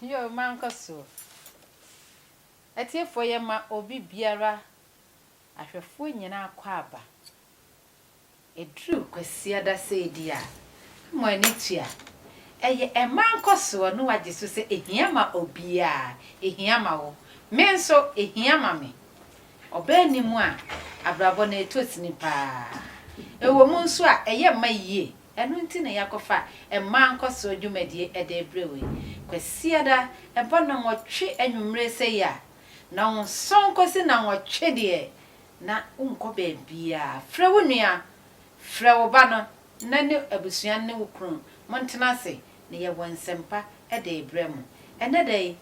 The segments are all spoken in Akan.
Yoo mankɔ so. Atiefoɔ yɛ ma obi biara ahwɛfoɔ nyinaa akwaaba. Ɛduru Kwasiada sei deɛ a na mo ani tua. Ɛyɛ ɛma nkɔsoɔ na wagye so sɛ ɛhia ma obiara. Ɛhia ma wo. Me nso ɛhia ma me. Ɔbaa nni mu a abrabɔ no ɛtɔ sini paa. Ɛwɔ mu nso a ɛyɛ mma yie. Ɛno nti na yɛakɔfa mmaa nkɔsoɔ dwumadie de rebrɛ wo yi. Kwasiada, ɛbɔ nnɔnwɔtwe anwummere sei a, nnɔnson kɔsi nnɔnwɔtwe deɛ, na wonkɔ baabiara. Frɛ wo nua, frɛ wo ba no na ne abusua no ne wo kunu montena ase na yɛwɔ nsɛmpa de rebrɛ mo. Ɛnnɛ da yi,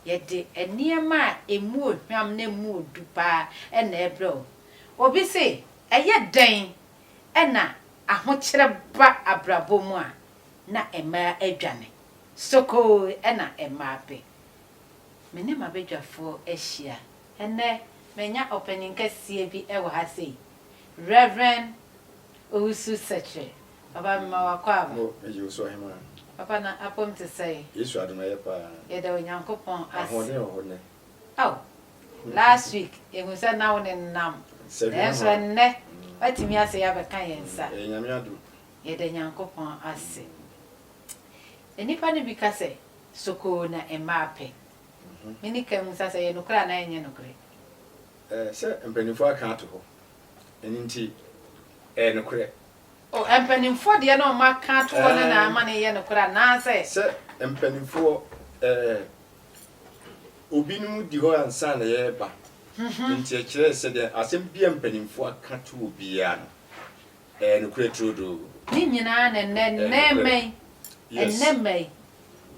yɛde nneɛma a ɛmu ohwam na ɛmu odu pa ara na ɛrebrɛ wo. Obi se, ɛyɛ dɛn na ahokyerɛ ba abrabɔ mu a, na mmaa adwane. Sokoo na mmaa pɛ. Me ne m'abadwafoɔ ahyia. Ɛnnɛ, manya ɔpanin kɛseɛ bi wɔ ha sei, Rev. Owusu Sekyere. Papa, mema wo akɔ aba. O, mede wo so, Ɔhemmaa. Papa, na apɔm te sɛn? Yesu adom, ɛyɛ paa. Yɛda Onyankopɔn ase. Ahoɔden wɔ hɔ nnɛ. Ao, last week yɛhu sɛ na wo ne no nam, nanso ɛnnɛ woatumi asɛe abɛka yɛn nsa. Ɛyɛ Nyame adom. Yɛda Nyankopɔn ase. Nnipa no bi ka sɛ, Sokoo na mmaa pɛ. Me ne Kay mmusa sɛ, ɛyɛ nokorɛ anaa ɛnyɛ nokorɛ? Ɛɛ, sɛ mpaninfoɔ aka ato hɔ, ɛno nti ɛyɛ nokorɛ. O, mpaninfoɔ deɛ na wɔaka ato hɔ no na ama no reyɛ nokorɛ anaasɛ? Sɛ mpaninfoɔ, ɛɛ, Obinom di hɔ ansa na yɛreba, enti ɛkyerɛ sɛ deɛ asɛm bi a mpanimfoɔ aka to wo biara no, ɛyɛ nokorɛ turodoo. Ne nyinaa na ɛnnɛ, ɛnnɛ mma yi, ɛnnɛ mma yi,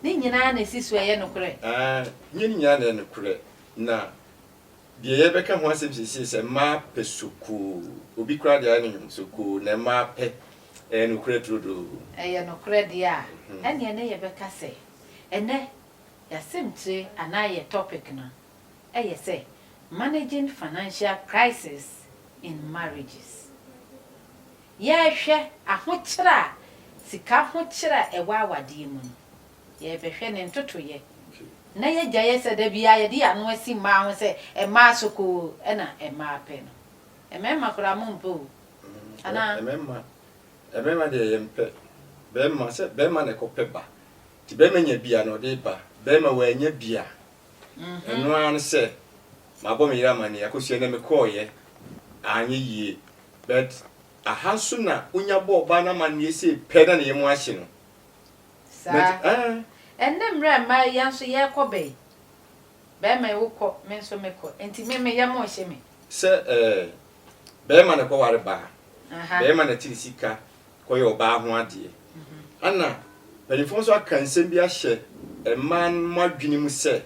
ne nyinaa na ɛsi so ɛyɛ nokorɛ. Aane, nyɛ ne nyinaa na ɛyɛ nokorɛ, na deɛ yɛrebɛka ho asɛm seesei sɛ mmaa pɛ sokoo, obi koraa deɛ ayɛ no nwom, sokoo na mmaa pɛ, ɛyɛ nokorɛ turodoo. Ɛyɛ nokorɛ deɛ a, ɛnneɛ na yɛbɛka sɛ ɛnnɛ, Y'asɛmtire anaa yɛ topic no yɛ sɛ Managing Financial Crisis in Marriages. Yɛrehwɛ ahokyerɛ a sika ho kyerɛ a ɛwɔ awadeɛ mu no, yɛrebɛhwɛ ne ntotoeɛ na yɛagyaeɛ sɛ da biara yɛde yɛn ano asi mmaa ho sɛ mmaa sokoo na mmaa pɛ no. Mmarima koraa mompɛ o, anaa? Mmarima deɛ yɛmpɛ. Barima, sɛ barima na ɛkɔpɛ ba. Nti bɛrima nya bi a na ɔde ba, bɛrima wannya bi a, ɛno ara ne sɛ mabɔ me yere amanneɛ, akosua nnɛ mekɔeɛ anyɛ yie, but aha nso na wonya bɔ ɔbaa no amanneɛ sei pɛ na ne yam ahye no. Saa. But eh. Ɛnnɛ mmerɛ a mmaa yi nso yɛrekɔ bɛyi, bɛrima yi wokɔ, me nso mekɔ, nti me me yam rehye me. Sɛ eh, bɛrima na ɛkɔware baa, bɛrima na tiri sika, kɔyɛ ɔbaa ho adeɛ. Ana mpanyinfoɔ nso aka nsɛm bi ahyɛ mmaa no mo adwene mu sɛ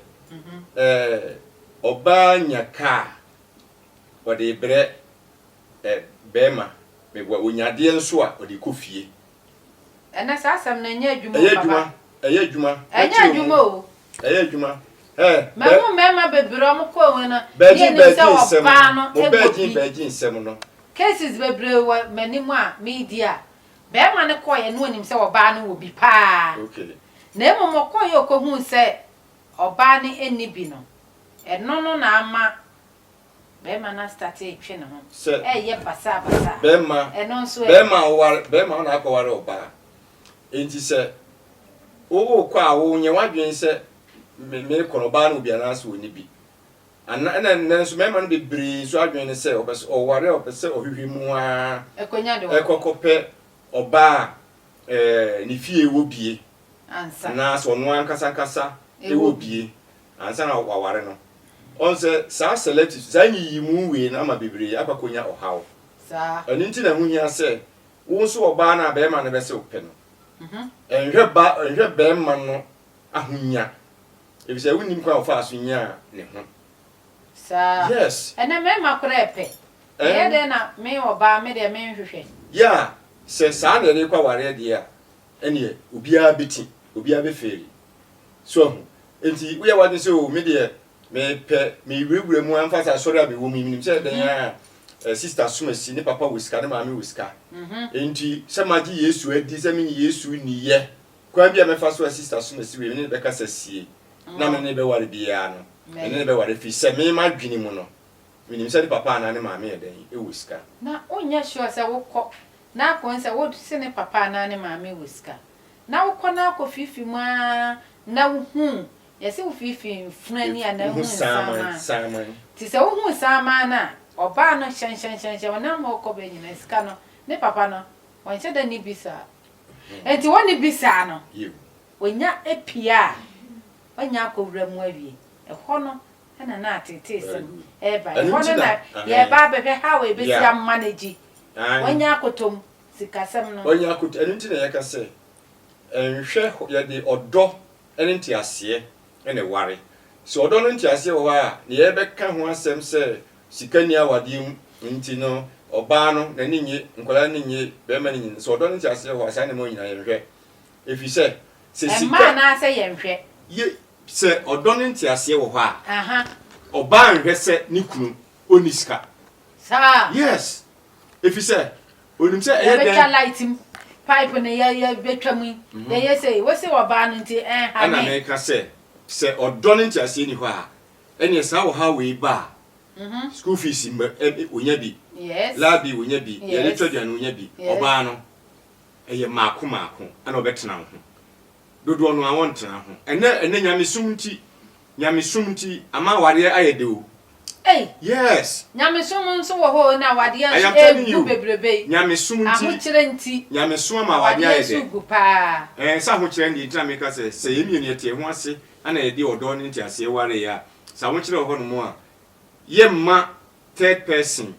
ɛɛ ɔbaa nya kaa ɔde rebrɛ ɛ bɛɛma meboa ɔnya adeɛ nso a ɔde kɔ fie. Ɛnɛ saa asɛm no ɛnyɛ adwuma o papa. Ɛyɛ adwuma ɛyɛ adwuma. Ɛnyɛ adwuma o. Ɛyɛ adwuma eh. Mahu mmarima bebree a wɔkɔɔ wɔn no. Bɛɛgye bɛɛgye nsɛm no. Mo bɛɛgye bɛɛgye nsɛm no. Cases bebree wɔ m'anim a meredi a, barima no kɔeɛ na ɔnim sɛ ɔbaa no wɔ bi pa ara. Na mmom ɔkɔeɛ a ɔkɔhuu sɛ ɔbaa no nni bi no, ɛno no na ama Bɛɛma no astate retwe ne ho, Sɛ ɛreyɛ basaa basaa. bɛɛma, Ɛno nso ɛ? bɛɛma a ɔware, bɛɛma a ɔna akɔware ɔbaa. Enti sɛ worekɔ a wonyɛ w'adwene sɛ me, merekɔ no ɔbaa ne wɔ bi anaasɛ ɔnni bi. Ana, ɛna nnɛ nso mɛɛma no bebree nso adwene ne sɛ ɔpɛsɛ ɔware a ɔpɛsɛ ɔhwehwɛ mu aa, Ɛkɔnya de wɔkɔ. ɛkɔkɔpɛ ɔbaa a ɛɛ, ne fie wɔ bie, Ansa. anaasɛ ɔno ankasa ankasa wɔ Ɛwɔ bi. bie. ansa na wɔaware no. Ɔn sɛ saa selective, saa nyiyimu wei no ama bebree akɔ akɔnya ɔhaw. Ɛno nti na ɛho hia sɛ wo nso ɔbaa no a barima no bɛsɛ wo pɛ no, nhwɛ ba, nhwɛ barima no ahonya, efisɛ wonnim kwan a ɔfaa so nyaa ne ho. Saa. Yes. Ɛnɛ mmarima koraa pɛ. Ɛyɛ dɛn na me ɔbaa, me deɛ menhwehwɛ. Yeah, sɛ saa na yɛde rekɔ awareɛ deɛ a, ɛneɛ obiara bɛti, obiara bɛfeeli. So ahu? Enti woyɛ w'adwene sɛ, o, me deɛ, mepɛ, mewurawura mu ara mfa sɛ asɔre a mewɔ mu yi, menim sɛ dɛn ara a sista som asi, ne papa wɔ sika, ne maame wɔ sika. Enti sɛ magye Yesu adi, sɛ menye Yesu nni yɛ, kwan bi a mɛfa so a sista som asi wei, me ne no bɛkasa sie, na me ne no bɛware biara no, me ne no bɛware ɛfiri sɛ me, m'adwene mu no, menim sɛ ne papa anaa ne maame yɛ dɛn, wɔ sika. Na wonyɛ sure sɛ wokɔ, na akɔhu sɛ wose ne papa anaa ne maame wɔ sika. na wokɔ na akɔ firifiri mu ara na wohu, yɛse wo firifiri mfunu ani anaa wohu nsaaman. Nti sɛ wohu nsaaman no a, ɔbaa no hyɛnhyɛnhyɛnhyɛn ɔnam hɔ kɔ bɛ nyinaa, sika no, ne papa no, ɔnhyɛ da nni bi saa. Nti ɔnni bi saa no, ɔnya pie a, ɔnya akɔwura mu awie. Ɛhɔ no na na ateeteesɛm reba. Ɛhɔ no na yɛreba abɛhwɛ how a yɛbɛsi ama no agyi. Wanya akotom. sikasɛm no. Ɔnya akoto. Ɛno nti na yɛka sɛ, nhwɛ hɔ, yɛde ɔdɔ ne nteaseɛ na ɛware. Sɛ ɔdɔ ne nteaseɛ wɔ hɔ a, deɛ yɛbɛka ho asɛm sɛ sika nni awadeɛ mu nti no, ɔbaa no n'ani nnye, nkwadaa no ani nnye, barima no ani nnye. Sɛ ɔdɔ ne nteaseɛ wɔ hɔ a, saa nneɛma nyinaa yɛnhwɛ. Ɛfiri sɛ, sɛ sika. Mma anaasɛ yɛnhwɛ? Ye, sɛ ɔdɔ ne nteaseɛ wɔ hɔ a, ɔbaa nhwɛ sɛ ne kunu ɔnni sika. Saa? Yes. Efisɛ onim sɛ ɛyɛ dɛn. Yɛbɛtwa light mu, pipe no yɛ yɛ bɛtwa mu yi, yɛyɛ sei, wo se ɔbaa no nti ɛnha me. Ɛna meka sɛ, sɛ ɔdɔ ne nteaseɛ nni hɔ a, ɛneɛ saa ɔhaw wei ba a, school fees mma ɛ ɛ ɔnya bi, laa bi ɔnya bi, deɛ yɛde tɔ aduane ɔnya bi, ɔbaa no, ɛyɛ mmaako mmaako ɛna ɔbɛtena wo ho. Dodoɔ no ara wɔntena ho. Ɛnɛ ɛnɛ nyamesom nti nyamesom nti ama awareɛ ayɛ dɛ o. Ei! Yes! Nyamesom nso wɔ hɔ o na awadeɛ I nso am telling ɛɛgu you. bebrebee. Nyamesom nti Ahokyerɛ nti nyamesom ama awadeɛ awadeɛ ayɛ nso dɛ. regu paa. Ɛɛ sɛ ahokyerɛ no deɛ nti na meka sɛ sɛ yɛn mmienu yɛte yɛn ho ase na yɛde ɔdɔ ne nteaseɛ wareeɛ a, sɛ ahokyerɛ wɔ hɔnom a, yɛmma third person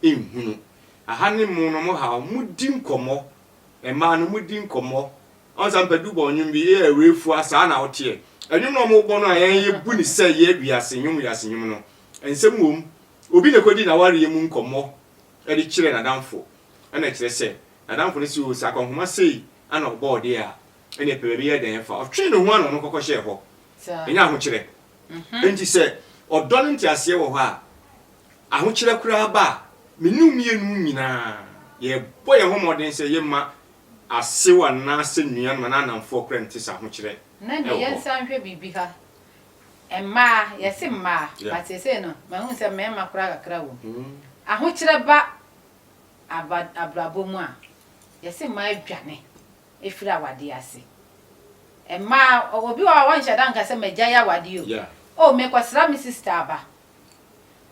nhunu. Aha ne mo no mohaw, modi nkɔmmɔ, mmaa no modi nkɔmmɔ Ɔnsa mpɛ du bɔ nwom bi yɛ awurɛ fua saa na wo teɛ ɛnwom na ɔmo bɔ no a yɛn yɛ bu ne sɛ yɛ wiase nwom wiase nwom no nsɛm wom obi na ɛkɔdi nawareɛ mu nkɔmɔ ɛde kyerɛ nadamfo ɛna ɛkyerɛ sɛ nadamfo no se oo sɛ akwanhoma sei ana ɔbɔɔ deɛ a ɛneɛ pɛ baabi yɛ dɛn ɛfa ɔtwee ne ho ana ɔno kɔkɔ hyɛɛ hɔ ɛnyɛ ahokyerɛ enti sɛ ɔdɔ ne nteaseɛ wɔ hɔ a ahokyerɛ koraa ba a mene wo mmienu nyinaa yɛ bɔ yɛn ho mmɔden sɛ yɛ ma Asew anaasɛ nnuan ma n'anamfoɔ korɛ nte sɛ ahokyerɛ wɔ hɔ. Na ne yɛnsa nhwɛ biribi ha. Mmaa, yɛse mmaa but seesei no mahu sɛ mmarima koraa kakra wom. Ahokyerɛ ba abrabɔ mu a, yɛse mmaa dwane firi awadeɛ ase. Mmaa, obi wɔ hɔ a ɔnhyɛ da nka sɛ magyae awadeɛ o, oh merekɔsra me sister aba.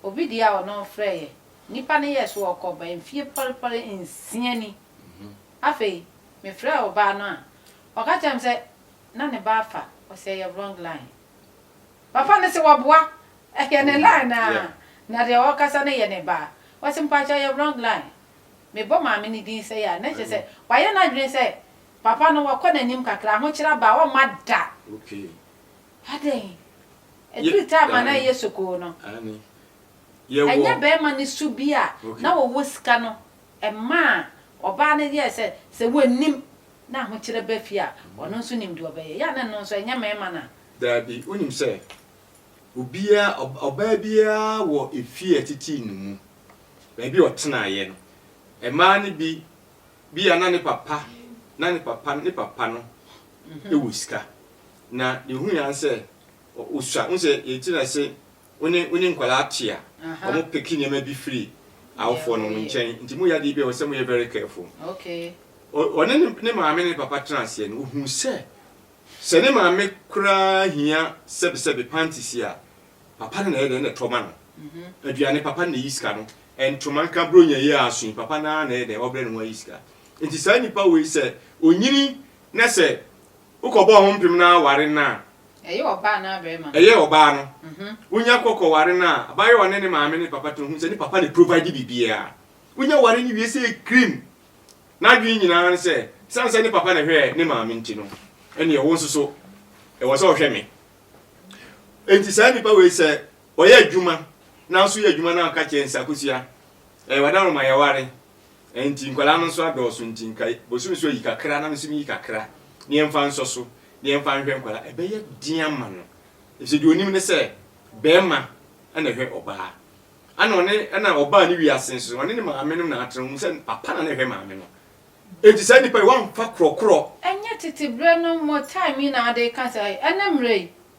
Obi deɛ a ɔno ɔfrɛeɛ, nnipa no yɛɛ so ɔkɔ bɛn mfeɛ pɔrepɔre nsia ni. Afei mefrɛɛ ɔbaa no a ɔka kyerɛɛ me sɛ na ne ba afa ɔsɛ ɛyɛ wrong line. Papa no se waboa ɛyɛ ne line a na deɛ ɔkasa no yɛ ne ba. Ɔse mpakyɛ ɛyɛ wrong line. Mebɔ maame no din sɛi a na kyerɛ sɛ wayɛ n'adwene sɛ papa no wakɔ n'anim kakra, ahokyere aba a ɔmma da. Adɛn? Ɛduru time a na ɛyɛ sokoo no, ɛnyɛ barima no su bi a na ɔwɔ sika no Ɛmaa ɔbaa no yɛɛ sɛ sɛ wannim na ahokyerɛ ba fie a, ɔno nso nim deɛ ɔbɛyɛ. Yɛ a na ɛno nso ɛnyɛ mmarima no a. Daabi, wonim sɛ obiara, ɔbaa biara wɔ efie a ɛtetee no mu, baabi a ɔtenaeɛ no. Mmaa no bi, ebia na ne papa, na ne papa, ne papa no wɔ sika, na deɛ ɔhuiɛ ara ne sɛ ɔsua. Wohu sɛ yɛte no ase. Wo ne wo ne nkwadaa te a, wɔn peke nneɛma bi firi awofoɔ no nkyɛn nti mo yɛ adeɛ bi a ɛwɔ sɛ mo yɛ very careful. Ɔne ne maame ne ne papa tena aseɛ no ɔhu sɛ, sɛ ne maame koraa hia sɛbi sɛbi panties a, papa no na ɛyɛ dɛn na ɛtɔ ma no. Aduane papa no na ɛyi sika no, ntoma nka bronya yi a aso yi papa no ara na ɛyɛ dɛn ɔbrɛ ne ho ayi sika. Nti saa nipa wei sɛ ɔnyini Na sɛ wokɔbɔɔ ho mpem na aware no a. Ɛyɛ ɔbaa anaa barima no. Ɛyɛ ɔbaa no. Wonya kɔ kɔware no a, abaayewa ne ne maame ne ne papa tena hɔ hu sɛ ne papa na provide biribiara. Wonya ware no wie sɛ krim. N'adwene nyinaa ne sɛ, ɛsiane sɛ ne papa na ɛhwɛɛ ne maame nti no, ɛnneɛ wo nso so ɛwɔ sɛ ɔhwɛ me. Enti saa nipa wei sɛ ɔyɛ adwuma nanso yɛ adwuma no a ɔka kyerɛ nsa kosua, ɛɛ w'adaworoma yɛware. Ɛnti nkwadaa no nso adɔɔso nti nka bosome so ayi kakra na mesome yi kakra na yɛmfa nsɔ so na yɛmfa nhwɛ nkwadaa ɛbɛyɛ den ama no ɛfisɛ deɛ ɔnim ne sɛ bɛɛma ɛna ɛhwɛ ɔbaa ɛna ɔne ɛna ɔbaa ne wiase nso ɔne ne maame no na atena ɔhu sɛ papa na na ɛhwɛ maame no ɛnti saa nipa yi wamfa korɔkorɔ Ɛnyɛ tete berɛ no mo time yi na wode reka saa yi? Ɛnnɛ mmerɛ yi,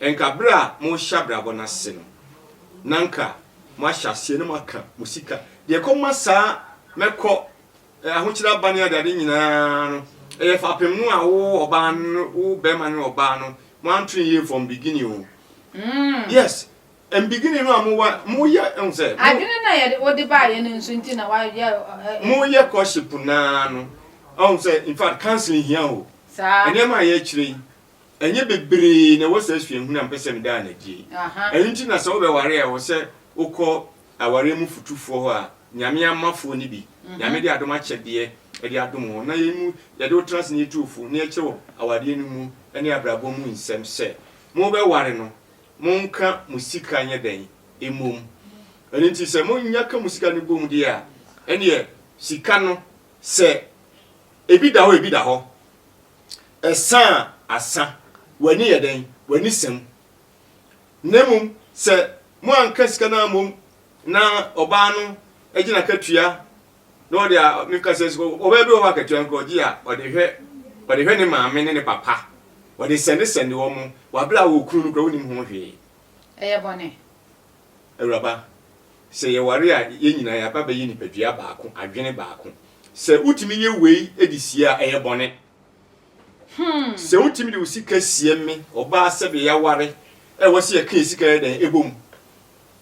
Nka bere a morehyɛ abrabɔ no ase no, na anka moahyɛ aseɛ na moaka mo sika. Deɛ ɛkɔma saa mɛkɔ, ahokyere aba ne adeade nyinaa no, ɛyɛ fapem no a wo ɔbaa no, wo barima ne ɔbaa no, moanto no yie from beginning o. Yes, ɛn beginning no a mowa, moyɛ, ɛhu sɛ. Adwene no a yɛde, wode baeɛ no nso nti na wayɛ ɛ. Moyɛ courtship no ara no, ɛhu sɛ, in fact, counseling hia o. Saa. Nneɛma a yɛrekyerɛ yi. Ɛnyɛ bebree na ɛwɔ saa suahunu a mepɛ sɛ meda no adi yi. Ɛno nti na sɛ wobɛware a, ɛwɔ sɛ wokɔ awareɛ mu fotufoɔ hɔ a Nyame ama foɔ no bi. Nyame de adom akyɛdeɛ de adom wɔn na yei mu yɛde wo tena ase na yɛtu wo fo na yɛkyerɛ wo awadeɛ no mu ne abrabɔ mu nsɛm sɛ mobɛware no monka mo sika nyɛ dɛn mmom. Ɛno nti sɛ monya ka mo sika no bom deɛ a ɛneɛ sika no sɛ ebi da hɔ a ebi da hɔ. Ɛsã a asã, w'ani yɛ dɛn? W'ani sã mu. Na mmom sɛ moanka sika no ammom na ɔbaa no gye n'akatua na ɔde a, meka sɛ ɔbaa bi wɔ hɔ a akatua nko ɔgye a, ɔde hwɛ ɔde hwɛ ne maame ne ne papa, ɔde sɛndesɛnde wɔn, wɔ bere a wɔ kunu no koraa wonnim ho hwee. Ɛyɛ bɔne. Awuraba, sɛ yɛware a, yɛn nyinaa yɛaba bɛyɛ nipadua baako, adwene baako. Sɛ wotumi yɛ wei de sie a, ɛyɛ bɔne. Hmm. Sɛ wotumi de wo sika sie me ɔbaa sɛdeɛ yɛaware a ɛwɔ sɛ yɛka yɛ sika yɛ dɛn ɛbɔ mu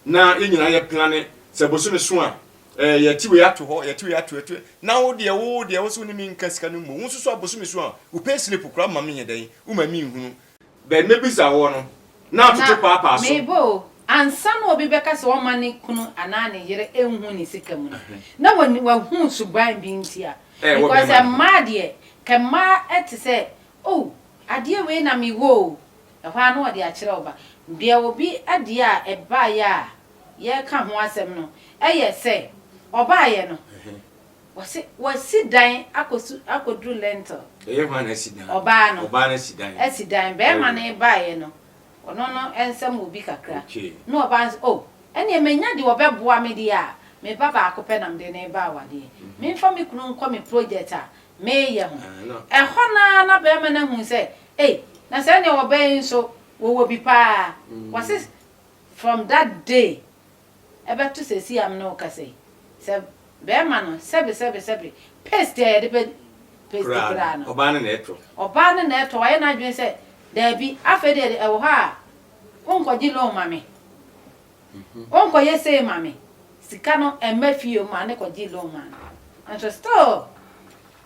na yɛn nyinaa yɛ plane sɛ bosome so a ɛɛ yɛte wei ato hɔ yɛte wei ato ɛto na wo deɛ wo deɛ wo sɛ wo ne me nka sika no mmɔ wo nso so a bosome so a wo pay slip koraa ma me yɛ dɛn woma me nhunu Bɛ nna bi sa hɔ no, na atoto paapaa so. Mebɔ o, ansa na obi bɛka sɛ ɔmma ne kunu anaa ne yere nhu ne sika mu no, na wahu suban bi nti a. Because mmaa deɛ, ka mmaa te sɛ, Oh, adeɛ wei na mewɔ o, ɛhɔ ara na wɔde akyerɛ wo ba. Deɛ obi adeɛ a ɛbaeɛ a yɛreka ho asɛm no yɛ sɛ, ɔbaeɛ no. Wɔse wasi dan akɔsu akɔduru lintel. Ɛyɛ hwan na asi dan? Ɔbaa no. Ɔbaa no asi dan. Asi dan. Bɛɛma no baeɛ no, ɔno no nsɛm wɔ bi kakra. Okay. Ne ɔbaa no se, oh, ɛneɛ manya deɛ ɔbɛboa me deɛ a, me ba baako pɛ na mede no reba awadeɛ. Memfa me kunu nkɔ me project a mereyɛ ho. Ah, no. Ɛhɔ no ara na bɛɛma no ahunu sɛ, ei, na saa neɛ ɔbaa yi nso, wɔwɔ bi paa. Wɔse from that day, ɛbɛto seesei a me ne wo kasa yi, sɛ bɛrima no, sɛbe, sɛbe, sɛbe, paste a yɛde bɛ paste koraa no, ɔbaa no na ɛtɔ. Ɔbaa no na ɛtɔ, wayɛ n'adwene sɛ, Daabi, afei deɛ de, ɛwɔ hɔ a, wonkɔgye loan ma me, wonkɔyɛ sei ma me, sika no ɛmma fie, maa no kɔgyee loan maa no, nanso still.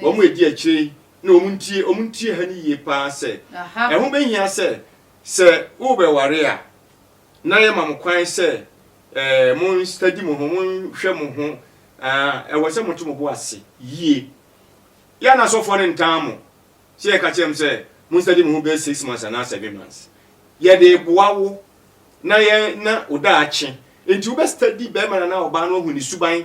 wɔn a edi akyire yi na wɔn ntie, wɔn ntie ha no yie pa ara sɛ, ɛho bɛhia sɛ, sɛ worebɛware a, na yɛma mo kwan sɛ eh, mo nstadi mo ho, mo nhwɛ mo ho, ah, ɛwɔ sɛ moto mo bo ase yie. Yɛ na asɔfoɔ no ntaa mo, sɛ yɛka kyerɛ mo sɛ mo nstadi mo ho bɛyɛ six months anaa seven months. Yɛde boa wo na yɛ na wo daakye nti wobɛstadi bɛrima no anaa ɔbaa no ahu ne suban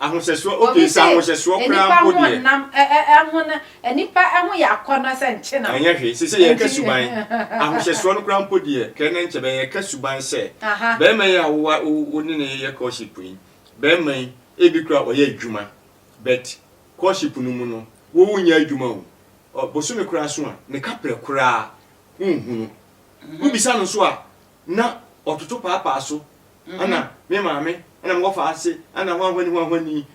Ahohyɛsoɔ ok sɛ ahohyɛsoɔ koraa mpo deɛ. Wɔse nnipa ho ɔnam ɛho no nnipa ɛho yɛ akɔnɔ sɛ nkyenam. Ɛnyɛ hwee seisei yɛreka suban ahohyɛsoɔ no koraa mpo deɛ kɛ na nkyɛ bɛn yɛreka suban sɛ barima yi a wowa wo ne no yɛ courtship yi barima yi ebi koraa ɔyɛ adwuma but courtship no mu no wo wo nyɛ adwuma o ɔ bosome koraa so a ne kaprɛ koraa wonhunu wobisa no nso a na ɔtoto paapaa so ana me maame ana mowɔ fa ase ana hwanhwani hwanhwani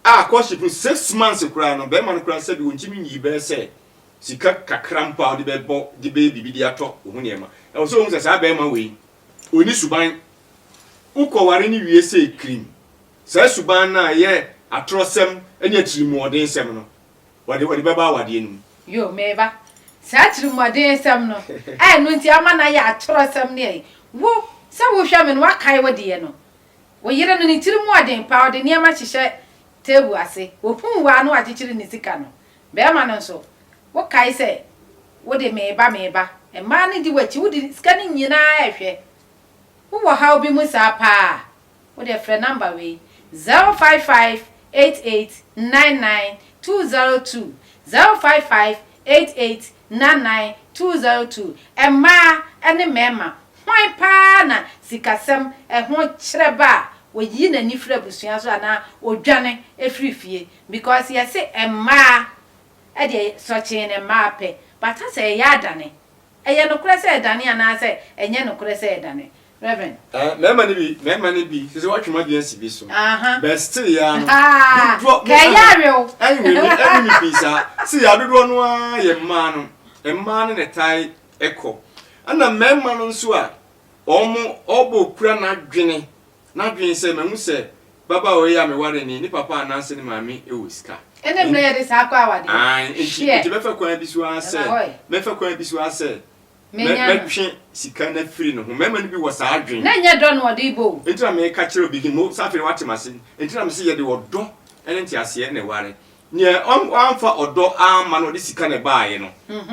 a courtship no six months koraa no bɛrima no koraa sɛbi ɔntumi nyii bɛyɛ sɛ sika kakra mpo a wode bɛbɔ de bɛyɛ biribi de atɔ wo ho nneɛma ɛwɔ sɛ wohu sɛ saa bɛrima wei ɔni suban wokɔware no wie sɛ kirim saa suban no a ɛyɛ atorɔsɛm ne atirimuɔdensɛm no Wɔde wɔde bɛba awadeɛ no mu. Yoo, me ba. Saa atirimuɔdensɛm no, a ɛno nti ama no ayɛ atorɔsɛm ne ɛyi. Wo, sɛ wohwɛ me no, woakae wo deɛ no? Wo yere no, ne tiri mu ɔden paa, ɔde nneɛma hyehyɛ table ase, ɔhuu wo a na wakyekyere ne sika no. Barima no nso, wokae sɛ, Wo de, me ba, me ba. Mmaa no di w'akyi, wode sika no nyinaa rehwɛ. Wowɔ haw bi mu saa paa. Wodeɛ frɛ number wei, zero five five eight eight nine nine two zero two, zero five five eight eight nine nine two zero two, Mmaa ne mmarima, hwan paa na sikasɛm ho kyerɛ ba a ɔyi n'ani firi abusua so anaa ɔdwane firi fie? Because yɛse mmaa deɛ sɔkyee na mmaa pɛ, but asɛ yɛyɛ adane Ɛyɛ nokorɛ sɛ ɛdane anaasɛ ɛnyɛ nokorɛ sɛ ɛdane? Rev. Ɛɛ mɛɛma no bi mɛɛma no bi sese watwe m'adwene asi bi so Aha. but still yɛ ara no Ahaa dodoɔ mo Kɛɛ ɛɛ yare o anyway me ɛne me pii saa see yɛ ara dodoɔ no ara yɛ mmaa no mmaa no na ɛtae ɛkɔ ɛna mɛɛma no nso a wɔn ɔɔbɔ kura n'adwene N'adwene sɛ, Mahu sɛ babaawa yi a mewaree no, ne papa anaasɛ ne maame wɔ sika. Ɛnna mmerɛ yɛde saa kɔ awadeɛ. Aane, enti, enti mɛfa kwan bi so ara sɛ, mɛfa kwan bi so ara sɛ, mɛ, mɛtwe sika no afiri ne ho. Mmarima no bi wɔ saa adwene. Na ɛnyɛ dɔ na wɔde rebɔ o. Enti na mereka kyerɛ obi, he, mo, sɛ afei deɛ wate m'ase. Enti na mese yɛde ɔdɔ ne nteaseɛ na ɛware. Nea ɔn, wamfa ɔdɔ amma no, ɔde sika na ɛbaaeɛ no,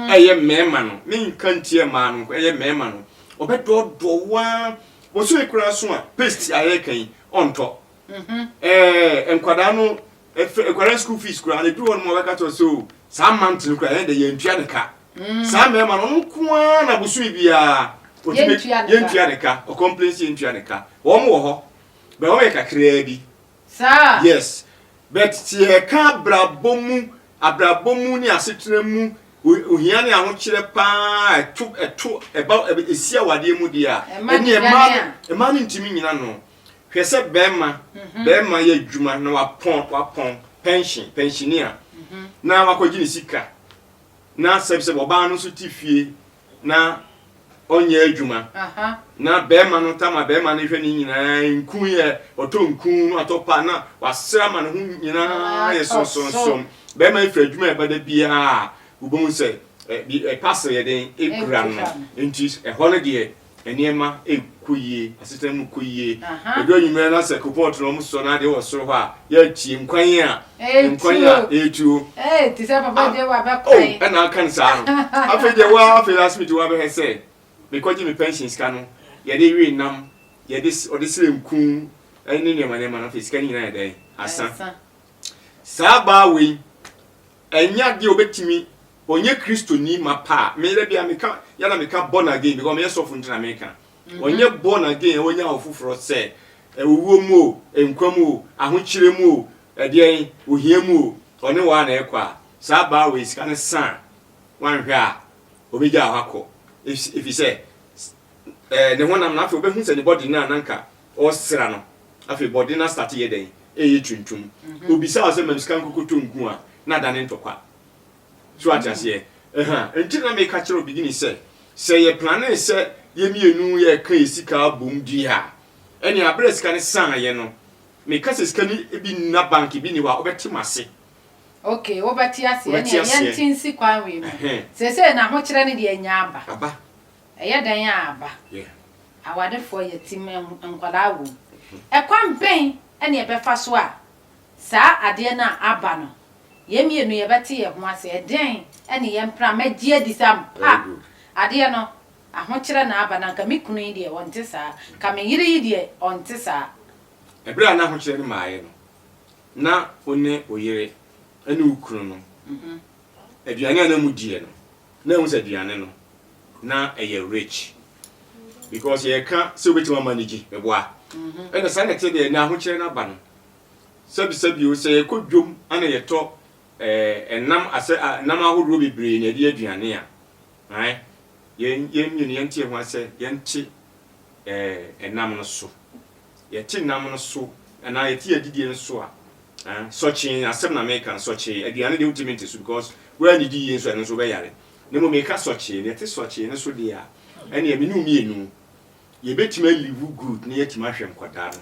ɛyɛ mmarima no, menka ntiaa mmaa no nko, ɛyɛ mmarima no, ɔbɛdɔɔdɔɔ wo ara. Bosome koro aso a paste a yɛreka yi ɔntɔ. Ɛɛ nkwadaa no ɛfɛ nkwadaa school fees koraa na ebi hɔ nom a wɔbɛka kyerɛ sɛ o oh, saa month no koraa yɛn de yɛn ntua ne ka. Mm. Saa mmarima no ɔno nko ara na bosome biara yɛntua ne ka ɔkɔmplensi yɛntua ne ka wɔn wɔ hɔ bɛn wɔn yɛ kakraa bi. Saa? Yes. But sɛ yɛreka abrabɔ mu, abrabɔ mu ne asetena mu ohia ne ahokyerɛ pa ara a ɛto, ɛto, ɛba, ɛsi awadeɛ mu deɛ a, ɛneɛ mmaa no, mmaa no ntumi nnyina ano. Hwɛ sɛ barima, barima yɛ adwuma na wapɔn, wapɔn, pension, pensioner, na wakɔgye ne sika, na sɛbsɛb ɔbaa no nso te fie, na ɔnyɛ adwuma na bɛrima no tam a bɛrima no hwɛ ne nyinaa nku yɛ ɔtɔ nku no atɔ pa na wasra ama ne ho nyinaa yɛ sonsonsom bɛrima efiri adwuma a ɛbɛda biara wobɛhu sɛ ɛpase yɛ den ekura no nti ɛhɔ no deɛ Nneɛma rekɔ yie, asetena mu kɔ yie. Ɛduru anwummerɛ na sɛ koropɔɔto na wɔsosɔ no adeɛ wɔ soro hɔ a, yɛatie nkwan a nkwan a ɛretuo. O, ɛna aka no saa no. Afei deɛ wo ara afei last minute woabɛhɛ sɛ mekɔgye me pension sika no, yɛde we nam, yɛde ɔde srɛ nku ne nneɛma nneɛma no afei sika no nyinaa yɛ dɛn? Asa. Saa baa wei. Ɛnyɛ adeɛ a ɔbɛtumi ɔnyɛ Kristoni mapa a, me dabi a meka, yɛ na meka born again because meyɛ sɔfo nti na meka. Ɔnyɛ born again a wanya ɔfoforɔ sɛ owuo mu o, nkwa mu o, ahokyerɛ mu o, ɛdeɛn, ohia mu o, ɔne wo ara na ɛrekɔ a, saa baa wei sika no sa a, wanhwɛ a, ɔbɛgyaa hɔ akɔ. Ɛfisɛ, ne honam no afei ɔbɛhu sɛ ne body no a na anka Ɔsera no, afei bɔde no astate yɛ dɛn? Ɛyɛ tuntum. Ɔbisaa wo sɛ, Mam sika nkokoto nku a, na adane ntɔkwa. So woate aseɛ? Ɛha nti na meka kyerɛ wo beginning sɛ, sɛ yɛ plane sɛ yɛ mmienu yɛka yɛ sika bom di a, ɛnneɛ aberɛ a sika no saeɛ no, meka sɛ sika no bi nna bank, ebi nni hɔ a, wobɛte m'ase. Ok, wobɛte aseɛ. Ɛnneɛ yɛnte nsi kwan wei mu. Seesei n'ahokyerɛ no deɛ anya aba. Aba. Ɛyɛ dɛn a ba awarefoɔ yɛ ti ma nkwadaa wom? Ɛkwan bɛn na yɛbɛfa so a saa adeɛ no a aba no, yɛn mmienu yɛbɛte yɛn ho ase? Ɛdeɛn ne yɛn mpena? Mɛgye adi sɛ ampa adeɛ no ahokyerɛ na aba, na anka me kunu yi deɛ ɔnte saa, anka me yere yi deɛ ɔnte saa. Ɛberɛ a na ahokyerɛ no mmaeɛ no, na wo ne wo yere ne wo kunu no, aduane a na modiɛ no, na ehu sɛ aduane no na ɛyɛ rich because yɛka sɛ wobɛtumi ama no gye meboa ɛna saa na ɛte deɛ na ahokyerɛ no aba no sɛbisɛbio sɛ yɛkɔ dwom ana yɛtɔ ɛnam eh, asɛ nam ahodoɔ bebree na ɛde aduane a ae yɛn yɛn mmienu yɛnte ho asɛ yɛnte ɛnam eh, no so Yɛte nam no so anaa yɛte adidie no so a, eh, sɔkyee asɛm na meka no, sɔkyee, aduane deɛ wontumi nte so because woannidi yie nso ɛno nso wobɛyare. Na mmom meka sɔkyee, deɛ ɛte sɔkyee no so deɛ a, ɛneɛ me ne wo mmienu, yɛbɛtumi a live good na yɛatumi ahwɛ nkwadaa no.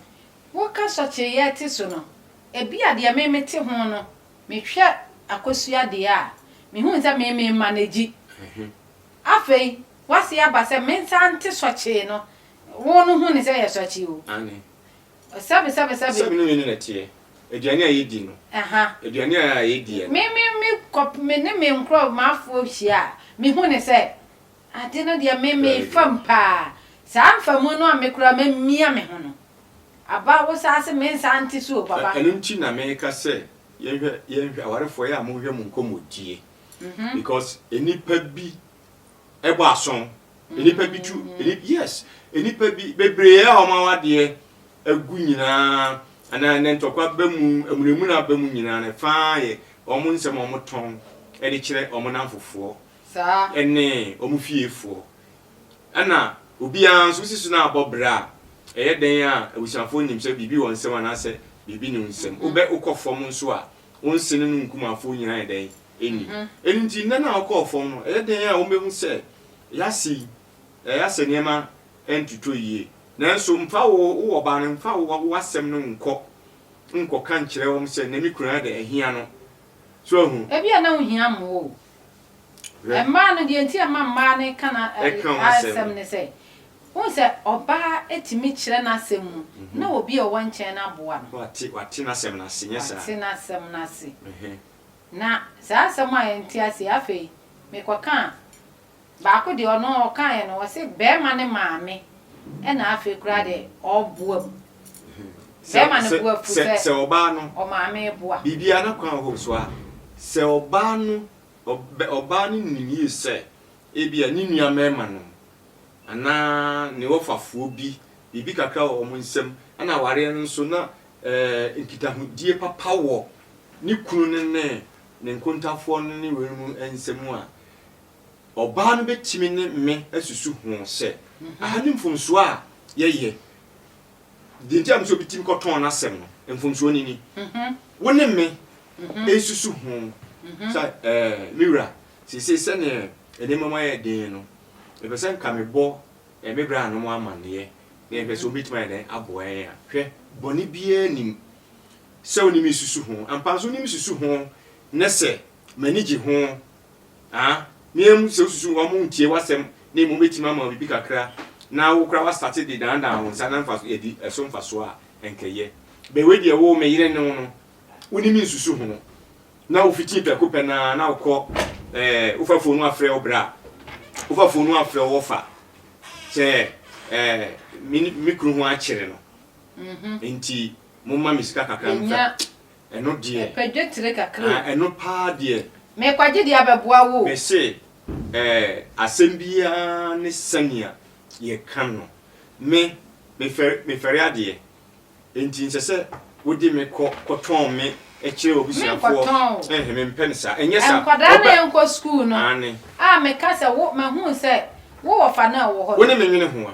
Woka sɔkyee yɛte so no, ebia deɛ me mete ho no, mehwɛ akosua deɛ a, mehu sɛ me me manage. Afei, woase aba sɛ mensa nte sɔkyee no. Wo no hu no sɛ ɛyɛ sɔkyee o. Aane. Sɛbesɛbesɛbe. Sɛbe no mmienu na ɛteɛ. Aduane a yɛdi no. Aha. Aduane a yɛdiɛ no. Me, me, me kɔ, me ne me nkorɔ, m'afoɔ hyia a, mehu no sɛ, ade no deɛ me, me fam paa. Saa mfamu no a me koraa mamia me ho no, aba wo saa se mensa nte so o, papa. Ɛno nti na meka sɛ, yɛnhwɛ, yɛnhwɛ, awarefoɔ, yɛ a monhwɛ mo nkɔmmɔdie. because nnipa bi ɛbɔ ason nnipa bi tu yes nnipa bi bebree a wɔn awadeɛ agu nyinaa anaa ne ntɔkwa ba mu amunamuna aba mu nyinaa no faa yɛ wɔn nsɛm a wɔn tɔn ɛde kyerɛ wɔn nanfofoɔ ɛne wɔn fiefoɔ ɛna obiara nso sisi no abɔ bra a ɛyɛ dɛn a abusuafoɔ nim sɛ biribi wɔ nsɛm anaasɛ biribi ne nsɛm wobɛ wokɔ fam nso a Wo nse ne no nkumafoɔ nyinaa yɛ dɛn? Nnim. Ɛno nti, nna no a wokɔɔ fam no, ɛyɛ dɛn a wɔbɛhu sɛ yɛase yi, ɛyɛ a sɛ nneɛma ntotɔ yie. Nanso mfa wo, wo ɔbaa no, mfa wo, w'asɛm no nkɔ nkɔka nkyerɛ wɔn sɛ, Nnɛ me kunu ayɛ dɛ, ahia no. So ahu? Ebia na wohia mmoa o, Mmaa no, deɛ nti a ɛma mmaa no ka n'asɛm ne sɛ, wohu sɛ ɔbaa tumi kyerɛ n'asɛm mu na obi a ɔwɔ nkyɛn no aboa no. Wate n'asɛm no ase, nyɛ saa? Wate n'asɛm no ase. Na saa asɛm a yɛnte aseɛ, afei mekɔkaa baako deɛ ɔno ɔkaeɛ no, ɔse barima no maame na afei koraa deɛ ɔboam. Bɛrima no bo afu sɛ sɛ ɔbaa no ɔmaame boa. Biribiara n'akwan wɔ hɔ so a, sɛ ɔbaa no ɔbaa no nim yie sɛ ebia ne nua mmarimanom anaa ne wɔfafoɔ bi biribi kakra wɔ wɔn nsam ɛna awareɛ no nso na nkitahodie papa wɔ ne kunu no ne ne nkontafoɔ no ne weinom nsam a, Ɔbaa no bɛtumi ne me asusu ho sɛ, aha ne mfomsoɔ a yɛyɛ. Deɛ nti a menim sɛ obi tumi kɔtɔn n'asɛm no, mfomsoɔ no ni. Wo ne me nsusu ho sɛ, ɛɛ, me wura, seesei sɛdeɛ nneɛma mu ayɛ den no, mepɛ sɛ nka mebɔ me branom amanneɛ, na yɛhwɛ sɛ wɔbɛtumi ayɛ dɛn aboa yɛn a. Hwɛ, bɔne biara nnim sɛ wo ne me susu ho. Ampa ara nso, wo ne me susu ho ne sɛ m'ani gye ho Aa me ara mu sɛ wosusu wɔn ntie w'asɛm na mmom wobɛtumi ama wo biribi kakra na wo koraa woastate de daadaa wo nsa na mfaso yɛdi ɛso mfasoɔ a, ɛnka ɛyɛ. Bɛn wei deɛ wo, me yere ne wo no, wonim nsusu ho na wofiti prɛko pɛ no ara na wokɔ ɛɛ wofa fon no afrɛ wo bra, wofa fon no afrɛ wo ɔfa sɛ ɛɛ me ne me kunu ho akyere no nti momma me sika kakra mfa. Ɛno deɛ. Mepɛ dwetire kakra o. Ah, ɛno paa deɛ. Merekwagye deɛ abɛboa wo o. Mese, eh, asɛm biara ne sɛnea yɛka no. Me, mefɛre, mefɛre adeɛ. Enti nsɛ sɛ wode me kɔ, kɔtɔn me kyerɛ w'abusuafoɔ. Menkɔtɔn o. Ɛnhɛ, mempɛ no saa. Ɛnyɛ saa. Nkwadaa no a yɛnkɔ sukuu no. Aane. A meka sɛ wo, mahunu sɛ wowɔ fa no a ɛwɔ hɔ no. Wo ne me nwene ho a,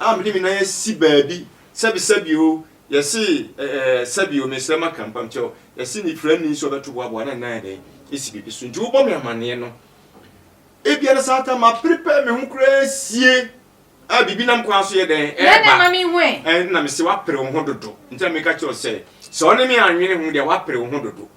a mede me nan asi baabi sɛbi sɛbi o, yɛse ɛ ɛ sɛbi o, mesrɛ maka mpam kyɛw, yɛse nifira nni nso ɔbɛto boaboa na ne nan ayɛ dɛn asi biribi so nti wobɔ me amaneɛ no, ebia no saa ta ma prepare me ho koraa sie a biribi nam kwan so yɛ dɛn ɛɛba, ɛna mese wapere wo ho dodo nti na meka kyerɛ wo sɛ sɛ ɔne me anwene ho deɛ wapere wo ho dodo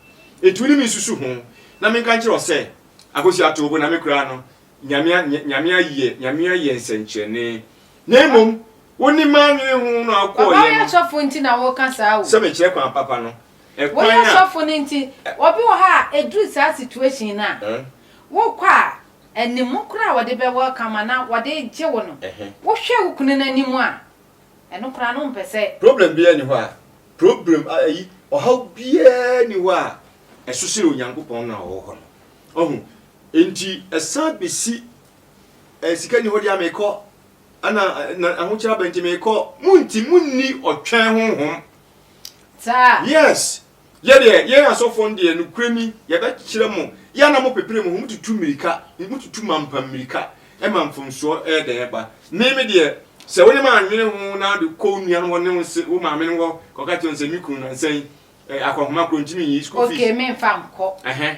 nti wo ne me nsusu ho na menka nkyerɛ wo sɛ Akosua too bo na me koraa no Nyame a, Nyame ayɛ, Nyame ayɛ nsɛnkyerɛnne. Na mmom, wonim m'anwene ho na wokɔɔeɛ no. Ɔba woyɛ sɔfo nti na woka saa o. Sɛ mekyerɛ kwan papa no. Woyɛ sɔfo no nti, obi wɔ hɔ a ɛduru saa situation no a, wokɔ a, anim koraa wɔde bɛ welcome anaa wɔde gye wo no, wohwɛ wo kunu no anim a, ɛno koraa no wompɛ sɛ. Problem biara nni hɔ a, problem, ayi, ɔhaw biara nni hɔ a ɛso sene Onyankopɔn no a ɔwɔ hɔ no. Wahu? Enti ɛsan bɛsi, Ɛ, sika nni hɔ deɛ a, mekɔ, ɛna, na ahokyerɛ aba nti mekɔ. Monti, monni ɔtwɛn honhom. Saa? Yes. Yɛ deɛ, yɛn asɔfoɔ no deɛ, nokorɛ ni, yɛbɛkyerɛ mo, yɛ a na mopepere mo ho, motutu mmirika, motutu mampa mmirika ma mfomsoɔ yɛ dɛn ba. Me, me deɛ, sɛ wo ne me annwene ho na wode kɔ wo nua no hɔ ne wo se, wo maame no hɔ kɔka kyerɛ no sɛ, me kunu nnansa yi, ɛ, akɔnhoma korɔ nti menyiyi school fees. Okay, memfa nkɔ. Ɛhɛn.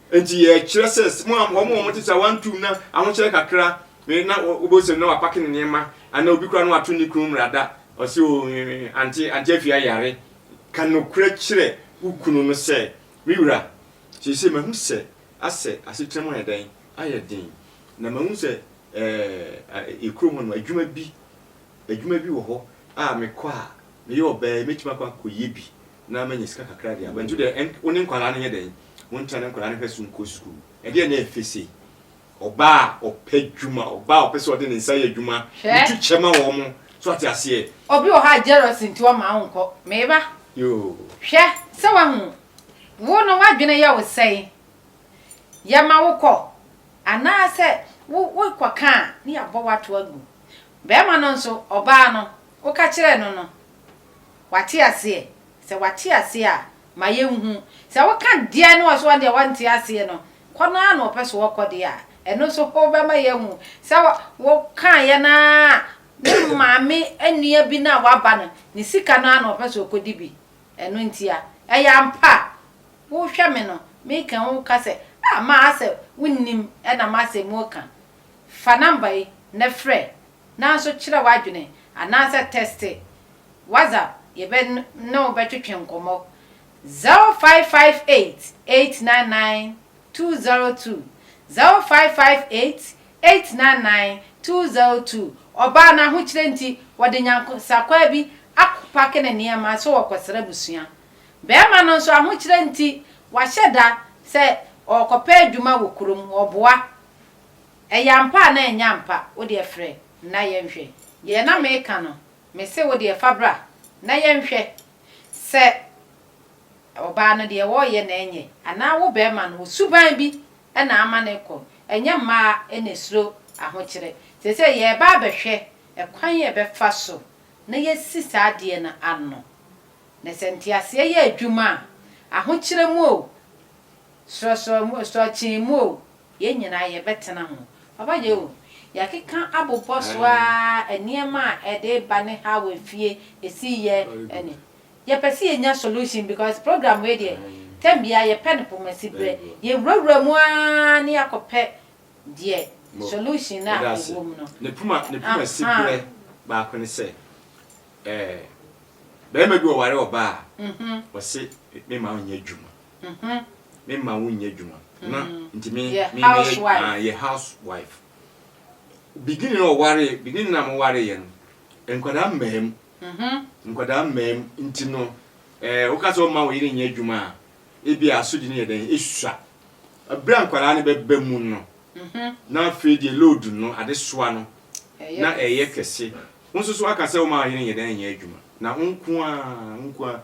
Enti yɛkyerɛ sɛ wɔn a wɔtete a wɔantu na ahokyerɛ kakra na wobɛhu sɛ na wapake ne nneɛma anaa obi koraa na wato ne kunu mmara da, ɔse o ante ante afie ayare. Ka nokorɛ kyerɛ wo kunu no sɛ, Me wura, seesei mahu sɛ asɛ asetena mu ayɛ dɛn? Ayɛ den. Na mahu sɛ ɛɛ kurom hɔ no adwuma bi adwuma bi wɔ hɔ a mekɔ a meyɛ ɔbaa yi mɛtumi akɔ akɔyɛ bi. na manya sika kakra de aba. Nti wo deɛ wo ne nkwadaa no nyɛ dɛn? Wontena ne nkwadaa no hwɛ so nkɔ sukuu? Ɛdeɛn na ɛyɛ fɛ sei? Ɔbaa a ɔpɛ adwuma, ɔbaa a ɔpɛ sɛ ɔde ne nsa yɛ adwuma, wotu kyɛ ma wɔn. So ate aseɛ? Obi wɔ hɔ a jealousy nti ɔmma wonkɔ. Me ba, hwɛ sɛ woahu. Wo no w'adwene yɛ wo sɛn? Yɛma wo kɔ anaasɛ wokɔka a, na yɛabɔ wo ato agu. Barima no nso, ɔbaa no, woka kyerɛɛ no no, Wate aseɛ? Sɛ wate aseɛ a, ma yɛnhu. Sɛ woka deɛ na ɔso ɔdeɛ ɔnte aseɛ no, kɔ no ara na ɔpɛ so ɔkɔ deɛ a, ɛno nso wobɛma yɛahu sɛ wokaeɛ no ara a ne maame nua bi no a waba no, ne sika no ara na ɔpɛ so ɔkɔdi bi. Ɛno ntia. Ɛyɛ ampa a, wohwɛ me no, meka yi woka sɛ, ah, maa sɛ wonnim na masɛ moka. Fa number yi na frɛ Nanso kyerɛ w'adwene anaasɛ tɛste WhatsApp, yɛbɛ ne wo bɛtwetwe nkɔmmɔ. 0558 899 202, 0558 899 202, Ɔbaa no ahokyerɛ nti, wɔde nyansakwaa bi akɔpake ne nneɛma sɛ ɔrekɔsra abusua. Barima no nso, ahokyerɛ nti, wahyɛ da sɛ ɔrekɔpɛ adwuma wɔ kurom, ɔboa Ɛyɛ ampa anaa ɛnyɛ ampa? Wo deɛ frɛ na yɛnhwɛ. Deɛ na meka no, me se wo deɛ fa bra na yɛnhwɛ sɛ ɔbaa no deɛ ɔreyɛ na ɛnyɛ anaa wo barima no wo suban bi na ama no rekɔ. Ɛnyɛ mmaa na ɛsuro ahokyerɛ. Seesei yɛreba abɛhwɛ ɛkwan a yɛbɛfa so na yɛasi saa adeɛ no ano. Na sɛ nteaseɛ yɛ adwuma a, ahokyerɛ mu o, sorɔkyee mu o, Yɛn nyinaa yɛbɛtena ho. Papa Yehu, yɛakeka abobɔ so ara nneɛma a ɛde ba ne how a fie ɛsi yɛ ne. Yɛpɛ sɛ yɛnya solution because program wei deɛ tɛm biara yɛpɛ no poma si berɛ. Yɛwurawura mu ara na yɛakɔpɛ deɛ solution no a ɛwɔ mu no. Ne poma ne poma si berɛ baako ne sɛ ɛɛ barima bi ɔware ɔbaa a ɔse me ma ɔnyɛ adwuma. Me mma wonnyɛ adwuma. Na nti me me mɛyɛ yɛ house wife. Beginning na ɔwaree beginning na mo waree yɛ no nkwadaa mmaa mu. Nkwadaa mmaa mu nti no ɛɛ woka sɛ ɔma wo yere nyɛ adwuma a ebi asodi no yɛ dɛn esua. Abira nkwadaa no bɛba mu no na afei deɛ load no adesoa no na ɛyɛ kɛse. Wo nso so aka sɛ ɔma wo yere nyɛ dɛn nyɛ adwuma na wo nko ara wo nko ara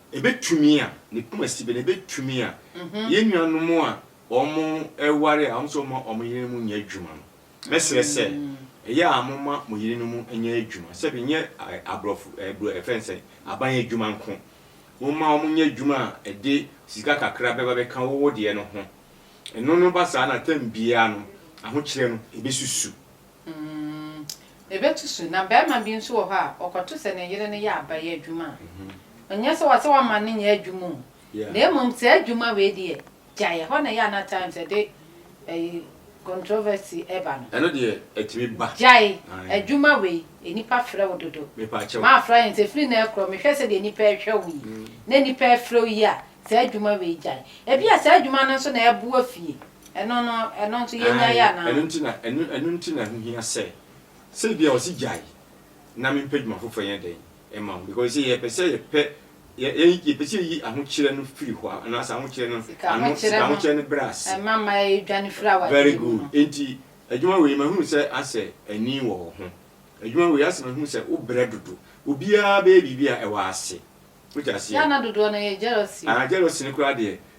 Ebetumi a, ne poma si bɛ na ebetumi a, yɛn nuanom a wɔreware a wɔn nso mma wɔn yerenom nyɛ adwuma no, mɛsrɛ sɛ, ɛyɛ a momma mo yerenom nyɛ adwuma, sɛbe nyɛ aborɔfo bro yɛfrɛ no sɛn, aban adwuma nko. Momma wɔn nyɛ adwuma a ɛde sika kakra bɛba bɛka wo wo deɛ no ho. Ɛno no ba saa na tam biara no, ahokyerɛ no, ebesusu. Mm, ebetu so. Na barima bi nso wɔ hɔ a, ɔkɔto sɛ ne yere no yɛ abayɛ adwuma a, ɛnyɛ sɛ wɔse wɔmma no nyɛ adwuma o, na mmom saa adwuma wei deɛ, gyae, ɛhɔ na ɛyɛ a na times ɛde ɛyi controversy ɛba no. Ɛno deɛ, ɛtumi ba. Gyae adwuma wei, nnipa frɛ wo dodo. Mepaakyɛw. Maafra yɛn sɛ, firi nnɛ rekorɔ, mehwɛ sɛdeɛ nnipa rehwɛ wo yi, na nnipa refrɛ wo yi a, saa adwuma wei gyae. Ebia saa adwuma no nso na ɛboa fie. Ɛno no, ɛno nso yɛnyae Aane, anaa? ɛno nti na, ɛno, ɛno nti na ɛho hia sɛ, sɛ ebia ɔse gyae na mempɛ dwuma foforɔ nyɛ dɛn mma wo, because sɛ yɛpɛ sɛ yɛpɛ, yɛ, yɛ, yɛpɛ sɛ yɛyi ahokyerɛ no firi hɔ a, anaasɛ ahokyerɛ no Sika ano, ahokyerɛ sika no, ahokyerɛ no berɛ ase. ɛma ma yɛdwane firi awadeɛ Very mu good. no. Enti, adwuma wei mahunu sɛ asɛ ani wɔ wo ho. Adwuma wei asɛ mahunu sɛ wo brɛ dodo. Obiara bɛyɛ biribi a ɛwɔ ase. Wote aseɛ? Yɛ a na dodoɔ no yɛ jealousy o. Ah, jealousy no koraa deɛ,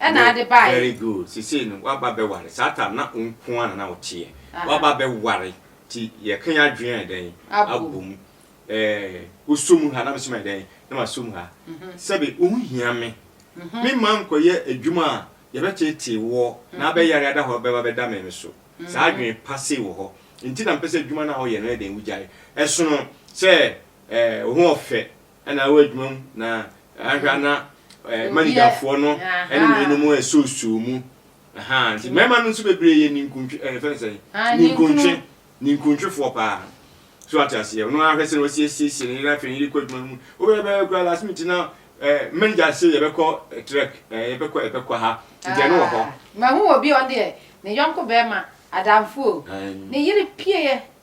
Ɛna ade baeɛ. Very good. Sesei no waba bɛware. Saa tam na wo nko ara na na woteɛ. Waba bɛware nti yɛka yɛn adwene ayɛ dɛn? Abɔ mu. Ɛɛ wosɔ mu ha na me nso mayɛ dɛn? Na masɔ mu ha. Sɛbe wonhia me. Me mma nkɔyɛ adwuma a yɛbɛteetee woɔ na abɛyare ada hɔ bɛba bɛda me me so. Saa adwene pa sei wɔ hɔ nti na mepɛ sɛ adwuma no a woyɛ no yɛ dɛn? Wogyae. Ɛsono sɛ ɛɛ wo ho ɔfɛ na wɔ adwuma mu na ahwɛ a na eh, manigafoɔ no ne weinom ɛsoosoo mu aha nti mmarima no nso bebree yɛ ninkuntwe eh, fɛn sɛ ninkuntwe ninkuntwefoɔ paa so ate aseɛ ɔno ahwɛ sɛ wɔsiesiesie ne yere afei ne yere kɔ adwuma no mu wobɛbɛyɛ kora last minute na eh, manager se yɛbɛkɔ eh, trek eh, yɛbɛkɔ yɛbɛkɔ ha nti ɛno wɔ hɔ mahu wɔ bi ɔdeɛ ne yɔnko bɛrima adamfoɔ ne yere pieɛ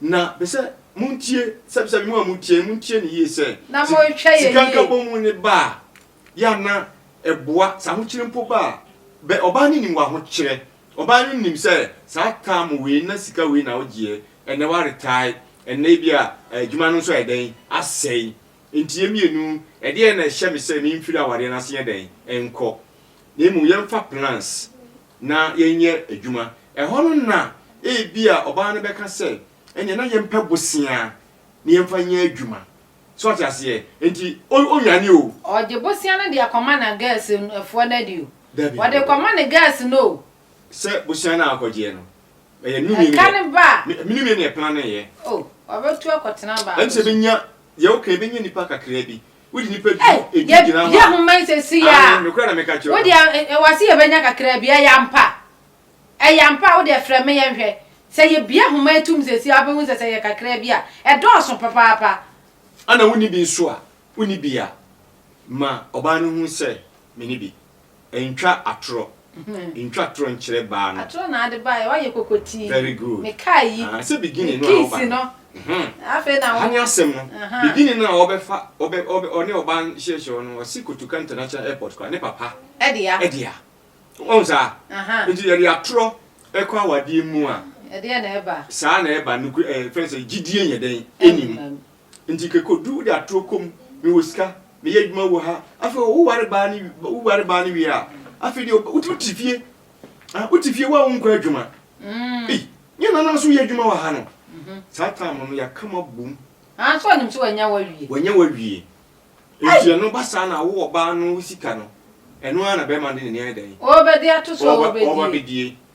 Na mesɛ montie, sɛbsɛbi mo a motie no, montie no yie sɛ, Na si, monhwɛ yɛ sika yie. nkabomu no ba a, yɛ a na ɛboa, sɛ ahokyere mpo ba a, bɛ, ɔbaa no nim w'ahokyerɛ, ɔbaa no nim sɛ saa taamo wei na sika wei na wogyeɛ, ɛnnɛ woaretae, ɛnnɛ ebia adwuma no nso ayɛ dɛn, asɛe. Enti yɛ mmienu, ɛdeɛn na ɛhyɛ me sɛ memfiri awareɛ no ase nyɛ dɛn, nkɔ. Na mmom yɛmfa plans na yɛnyɛ adwuma. Ɛhɔ no na ebia ɔbaa no bɛka sɛ, Ɛnneɛ na yɛmpɛ bosea na yɛmfa nyɛ adwuma. So wate aseɛ? Enti ɔnnwane o. Ɔgye bosea no de akɔma na gɛs foɔ no adi o. Dabi. Ɔde kɔma ne gɛs no o. Sɛ bosea no a ɔkɔgyeɛ no, ɛyɛ ne nua no yɛ. Ɛka ne ba a. Me nua no na ɛplaneeɛ. O, ɔbɛtu akɔtena baa no so. Ɛne sɛ ɛbɛnya, deɛ woka yi, ɛbɛnya nnipa kakraa bi wode nipa di edi gyina hɔ a yɛ ho mɛn sɛ si ya a mekura na meka kyerɛ wode wase yɛbɛnya kakra bi ɛyɛ ampa ɛyɛ ampa wode frɛ me yɛnhwɛ sɛ yɛbia homa atum sɛ si a wobɛhu sɛ sɛ yɛ kakra bi a ɛdɔɔso papaapa ana wonni bi nso a wonni bi a ma ɔbaa no hu sɛ mene bi Ntwa atorɔ. Ntwa atorɔ nkyerɛ baa no. Atorɔ na ade baeɛ, wayɛ kokotii. Very good. Me car yi. Aha, sɛ beginning no a ɔba no. Me keys no. Aha. Afei na wo. Aha ne asɛm no. Aha. Beginning no a ɔbɛfa, ɔbɛ, ɔbɛ, ɔne ɔbaa no hyɛhyɛ hɔ no, ɔse Kotoka International Airport koraa, ne papa. Ɛdea. Ɛdea. Wahu saa? Aha. Nti yɛde atorɔ ɛkɔ awadeɛ mu a. Ɛdeɛ na ɛba. Saa na ɛba, nokore, ɛɛ, fɛn sɛ gyidie nyɛ dɛn, ɛnim. Ɛnam. Nti kekodu wode atoro kɔ mu mewɔ sika meyɛ adwuma wɔ ha afei wo ware baa no wo ware baa no wie a afei deɛ wo wo te fie ah wo te fie wo a wo nkɔ adwuma ei nyɛ nana nso yɛ adwuma wɔ ha no saa time no yɛaka mo abom Ah, so ɔnim sɛ wanya wawie. wanya wawie nti ɛno ba saa na wo ɔbaa no wo sika no ɛno ara na bɛrima no de n'ani ayɛ dɛn Ɔrebɛde ato so a ɔreba ɔrebɛdie. bɛdie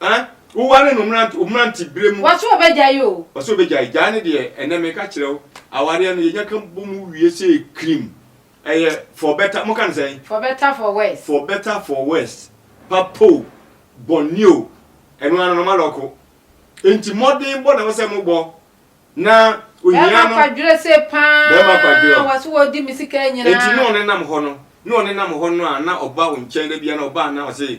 Ah wo ware no mmerante mmerante bere mu. Wɔse ɔbɛgyae oo. Ɔse ɔbɛgyae, gyae no deɛ ɛnɛ meka kyerɛ wo awareɛ no yɛnya ka bɔ mu wie sei krim ɛyɛ for better mo ka no sɛn? For better for worse. For better for worse, papa o, bɔne o, ɛno ara no na ɔma lɔko. Enti mmɔden bɔ na ɛwɔ sɛ mo bɔ na ohia no. Bɛɛma kwadwere se paa. Bɛɛma kwadwere o. Wɔse wɔdi me sika nyinaa. Enti na ɔnenam hɔ no, na ɔnenam hɔ no a na ɔba wo nkyɛn da biara na ɔba a na ɔse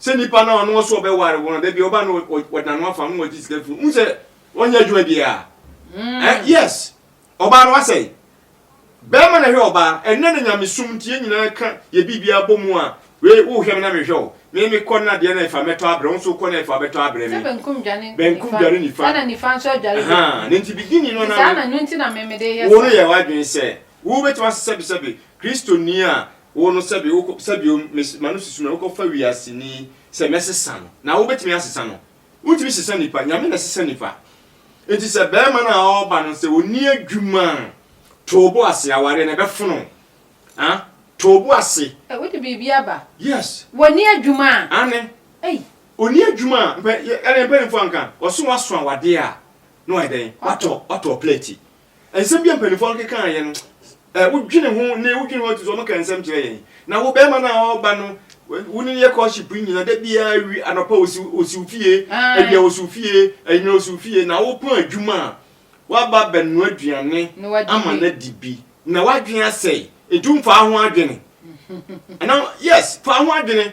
Sɛ nipa no a ɔno ɔsɛ ɔbɛware wo no, da bi ɔba no ɔgyina no afa no na ɔgye sika firi mu sɛ ɔnyɛ adwuma biara. Eh, yes. Ɔbaa no asɛe. Bɛrima na ɛhwɛ ɔbaa. Ɛnɛ na nyamesom nti yɛn nyinaa ka yɛ biribiara bɔ mu a, wei wohwɛ me na mehwɛ wo. Me mekɔ na adeɛ no ɛfa mɛtɔ abrɛ wo, wo nso wokɔ na ɛfa wobɛtɔ abrɛ me. Sɛ benkum dwane nifa. Benkum dwane nifa. Ɛna nifa nso adware benkum. Ahaa, na nti beginning no na me. Nti saa na ɛno nti na me mede yɛ saa. Wo no yɛ w'adwene sɛ wobɛtumi asesɛbesɛbe Kristoni a Wo no sɛbe wokɔ sɛbio me ma no susu me wokɔ fa wiase ni sɛ mɛ sesa no na wo bɛtumi asesa no wontumi sesa nipa nyame na sesa nipa nti sɛ bɛɛma no a ɔba no sɛ ɔni adwuma toobo ase awareɛ na ɛbɛfono ah toobo ase. Ɛ wode biribi aba. Yes. Wɔni adwuma a. Ane. Ei. Ɔni adwuma a mpɛ ɛne mpɛnimfoɔ anka ɔso waso awadeɛ a na wayɛ dɛn watɔ watɔ plɛti Nsɛm bi a mpanyimfoɔ no keka ayɛ no, eh, wodwene ho ne wodwene ho ato so, wɔka nsɛm kyerɛ yɛn. Na wo bɛrima no a ɔreba no, wo ne no yɛ courtship nyina, da biara wi anɔpa osiw osiw fie, awia osiw fie, anyina osiw fie, na wopɔn adwuma a, woaba abɛnoa aduane ama no adi bi, na w'adwene asɛe, nti womfaa ho adwene. Anaa, yes, fa ho adwene.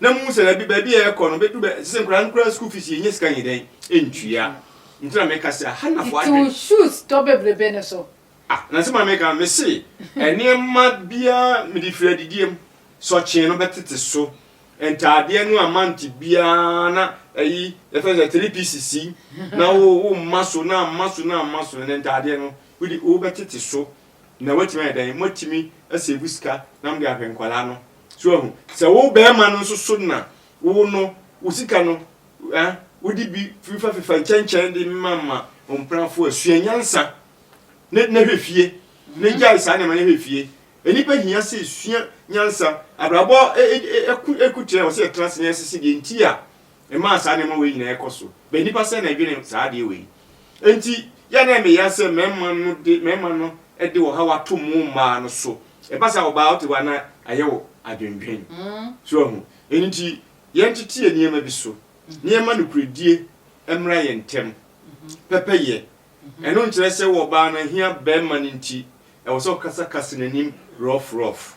na muhu sɛ dabi baabi a ɛrekɔ no bɛduru bɛ ɛsɛ sɛ nkwadaa no kura school fees yɛnya sika nyɛ dɛn ntua nti na meka sɛ aha na fo adwene. Tete wo shoes tɔ bebrebe no so. Ah na nsɛm a meka me se nneɛma biara mede firi adidie mu sɔkyee no bɛtete so ntaadeɛ no a month biara na ɛyi yɛfɛ sɛ three pieces yi na wo wo mma so na amma so na amma so na ntaadeɛ no wode wobɛtete so na woatumi ayɛ dɛn moatumi asave sika na mode ahwɛ nkwadaa no So ahu? Sɛ wo barima no nso so na wo no, wo sika no, eh, wode bi fefafefa nkyɛnkyɛn de mamma wo mpenafo a, sua nyansa na, na hwɛ fie, na gyae saa nneɛma na hwɛ fie. Nnipa hia sɛ sua nyansa. Abrabɔ ɛko ɛko tira wɔ sɛ yɛtena ase na yɛsese deɛ nti a Ɛmaa saa nneɛma wei nyinaa kɔ so. But nnipa sɛn na ɛdwene saa adeɛ wei? Enti yɛ a na ɛyɛ me ya sɛ mmarima no de, mmarima no de ɔhaw ato mo mmaa no so. Ɛba saa a, ɔbaa wote hɔ a na ayɛ wo adwendwen. So woahu? Ɛno nti yɛntete nneɛma bi so na yɛmma nokorɛdie mmra yɛn ntam. Pɛpɛyɛ, ɛno nkyerɛ sɛ wo ɔbaa no ahia barima no nti ɛwɔ sɛ ɔkasa kasa n'anim rough rough.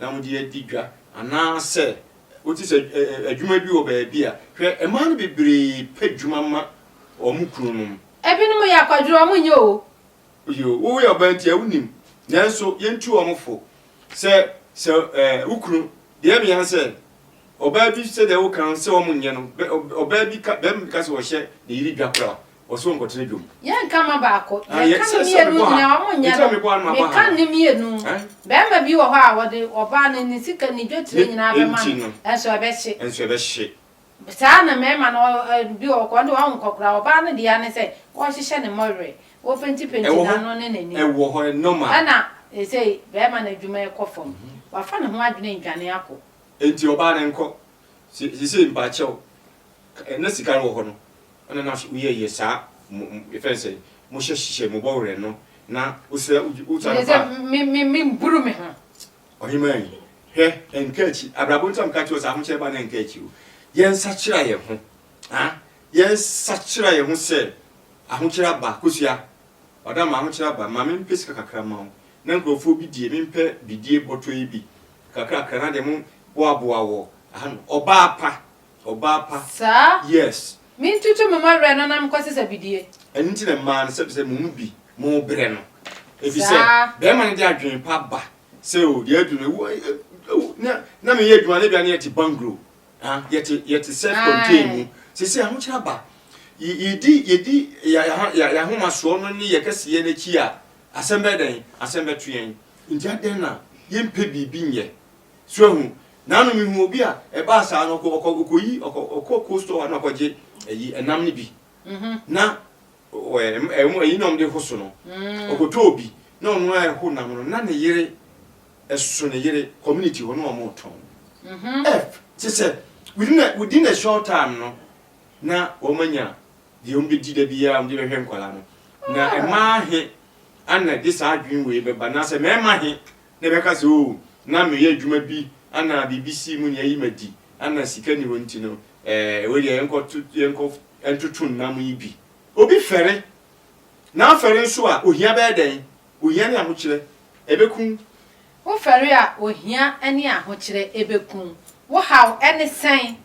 na wode adi dwa anaasɛ wote sɛ adwuma bi wɔ baabi a, hwɛ, mmaa no bebree pɛ dwuma ma wɔn kununom. Ebinom yɛ akwadworɔ, wɔn nyɛ oo. Yoo, woyɛ ɔbaa nti a wonim, nanso yɛntu wɔn fo. Sɛ sɛ ɛɛ wo kunu, deɛ mea sɛ ɔbaa bi sɛdeɛ woka no sɛ wɔn nyɛ no, ɔbaa bi ka bɛrima bi ka sɛ ɔhyɛ ne yere dwa koraa. Ɔse ɔnkɔtena dwom. Yɛ nka ma baako. Yɛ nka ne mienu nyina ɔmo nyɛ no. Me ka ne mienu. Bɛɛma bi wɔ hɔ a ɔde ɔbaa no ne sika ne dwetire nyina bɛma no. Ɛnso ɛbɛhye. Ɛnso ɛbɛhye. Saa na mɛɛma no bi wɔ hɔ kɔ ɔde ɔho nkɔ koraa ɔbaa no deɛ ne sɛ ɔhyehyɛ ne mɔwerɛ. Ɔpenti penti n'ano ne n'anim. Ɛwɔ hɔ ɛ normal. Ɛna sesei bɛɛma no adwuma ɛkɔ fam. Wafa ne ho adwene ndwane akɔ. Enti ɔbaa no nkɔ. Sesei mpakyɛw. Na sika no wɔ hɔ no, ɛna na so yɛ yɛ saa mo mo fɛn sɛ mo hyɛ hyehyɛ mo bɔ werɛ no na wo srɛ wo wo tua no pa. Me me me buru me ho. Ɔhemaa yi, hwɛ ɛnka akyi, abrabɔ nti a meka kyerɛ wo sɛ ahokyerɛ ba no ɛnka akyi o. Yɛn sakyera yɛn ho, ha, yɛn sakyera yɛn ho sɛ ahokyerɛ aba, kosua, ɔda ma ahokyerɛ aba, ma me mpɛ sika kakra ma wo na nkurɔfoɔ bi die, me mpɛ bidie bɔtɔ yi bi kakra kakra na deɛ mo boa boa wɔ ha no, ɔbaa pa. Ɔbaa pa. Saa? Yes. Me ntutu me mma werɛ no na mekɔse sɛ bidie. Ɛno nti na mmaa no sɛbisɛ mo mu bi mo brɛ no. Efisɛ Saa? bɛɛma no de adwene pa ba sɛ o deɛ adu no ewu ɛ ɛ ewu na na meyɛ adwuma no ebia na yɛte banglo ha yɛte yɛte self contain mu. Ae. Sesei ahokyerɛ aba ye yedi yedi ya ya ya yahomasoɔ no ne yɛ kɛseyɛ no akyi a asɛm bɛyɛ dɛn asɛm bɛto yɛn. Nti adɛn na yɛmpɛ biribi nyɛ So ahu? Naano me hu obi a ɛbaa saa no ɔkɔ ɔkɔ ɔkɔ yi ɔkɔ ɔkɔ cold store hɔ na ɔkɔ gye ɛyi ɛnam no bi na ɔɛ ɛm ɛmo ɛyi na ɔmo de ho so no ɔkɔ tɔ obi na ɔno ara ɛho nam no na ne yere ɛso ne yere community hɔ na ɔmo tɔn ɛf kye sɛ within a within a short time no na ɔmo anya deɛ ɔmo bɛ di da bi a ɔmo de bɛhwɛ nkwadaa no na ɛmaa he ana de saa adwene wei bɛba na sɛ mɛɛma he na ɛbɛka sɛ, Oo, na meyɛ adwuma bi na biribi sii mu na ayi me adi, na sika nni hɔ nti no, ɛɛ, wei deɛ yɛnkɔto, yɛnkɔ ntoto nnam yi bi. Obi fɛre, na afɛre nso a, ohia bɛyɛ dɛn? Ohia ne ahokyerɛ, ɛbɛkum. Wofɛre a, ohia ne ahokyerɛ, ɛbɛkum. Wo haw ne sɛn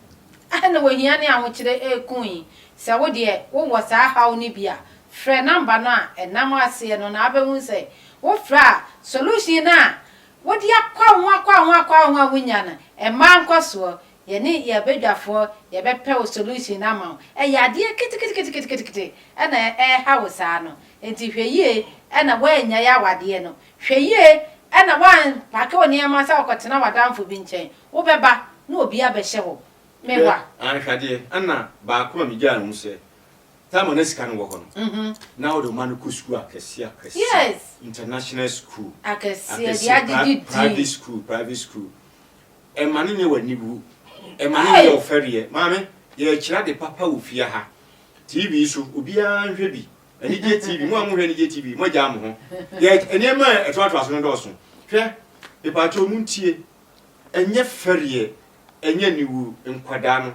na ohia ne ahokyerɛ rekum yi? Sɛ wo deɛ wowɔ saa haw no bi a, frɛ nɔmba no a ɛnam aseɛ no na wobɛhu sɛ Wofrɛ a, solution no a wode akɔ ho akɔ ho akɔ ho a wonnya no, mma nkɔsoɔ. Yɛne yɛn badwafoɔ yɛbɛpɛ wo solution no ama wo. Ɛyɛ adeɛ ketekete na ɛreha wo saa no. Enti hwɛ yie na woannyae awadeɛ no. Hwɛ yie na woampake wo nneɛma sɛ wokɔtena w'adamfo bi nkyɛn. Wobɛba na obi abɛhyɛ hɔ. Hwɛ Mewa. anhwɛdeɛ, ɛna baako a megyae ho sɛ, Thelma na sika no wɔ hɔ no na ɔde ɔma no kɔ sukuu akɛseɛ akɛseɛ international sukuu akɛseɛ private sukuu private sukuu ɛma no nyɛ w'aniwu ɛma no nyɛ ɔfɛreɛ maame yɛrekyerɛ ade papa wɔ fie ha tv so obiara nhwɛ bi anigye tv mo a mohwɛ anigye tv moagyaa mo ho yɛ nneɛma a ɛtoatoa so no dɔɔso hwɛ mepaakyɛ ɔmo ntie ɛnyɛ fɛreɛ ɛnyɛ aniwu nkwadaa no